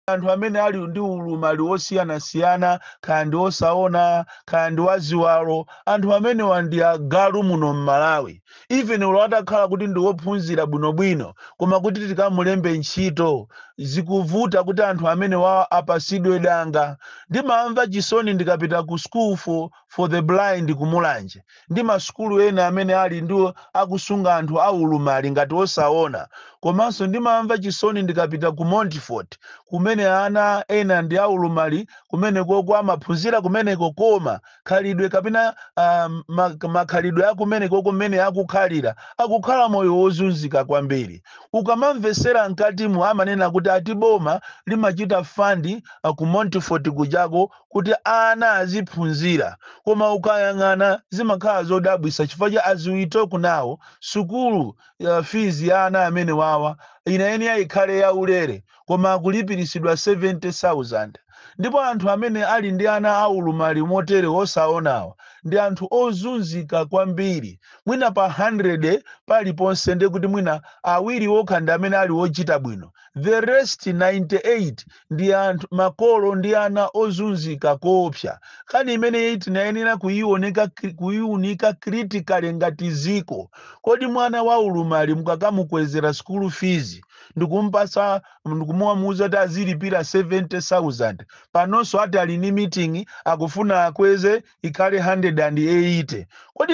anthu amene ali ndi ulumali wosiyanasiyana kaya ndi osaona kaya ndi waziwalo anthu amenewa ndi agalu muno m'malawi even olo atakhala kuti ndi wophunzira bwinobwino koma kuti tikamulembe ntchito zikuvuta kuti anthu amenewa apasidwe danga ndimamva chisoni ndikapita ku school for for the Blind ku Mulanje ndi masukulu ena amene ali ndi akusunga anthu a ulumali ngati osaona, komanso ndimamva chisoni ndikapita ku Montfort kumene ana ena ndi a ulumali kumenekoko amaphunzira kumeneko koma khalidwe kapena makhalidwe a kumenekoko mmene akukhalira akukhala moyo wozunzika kwambiri. Ukamamvesera mkatimu amanena kuti ati boma limachita fund ku Montfort kujako, kuti ana aziphunzira koma ukayang'ana zimakhala zodabwisa chifukwa cha as we talk now sukulu uh, fees ya ana amenewawa inayenera ikhale ya ulere koma akulipirisidwa 70000 ndipo anthu amene ali ndi ana aulumali motere osaonawa ndi anthu ozunzika kwambiri mwina pa 100 paliponse ndekuti mwina awiri okha ndi amene ali ochita bwino the rest 98 ndi anthu makolo ndi ana ozunzika koopsa nkhani imeneyi tinayenera kuyiwoneka kri- kuyiwunika critically ngati ziko kodi mwana wa ulumali mukakamukwezera school fees ndikumpasa ndikumamuuza kuti azilipira 70000 panonso ati ali ndi meeting akufuna akweze ikhale 180 kodi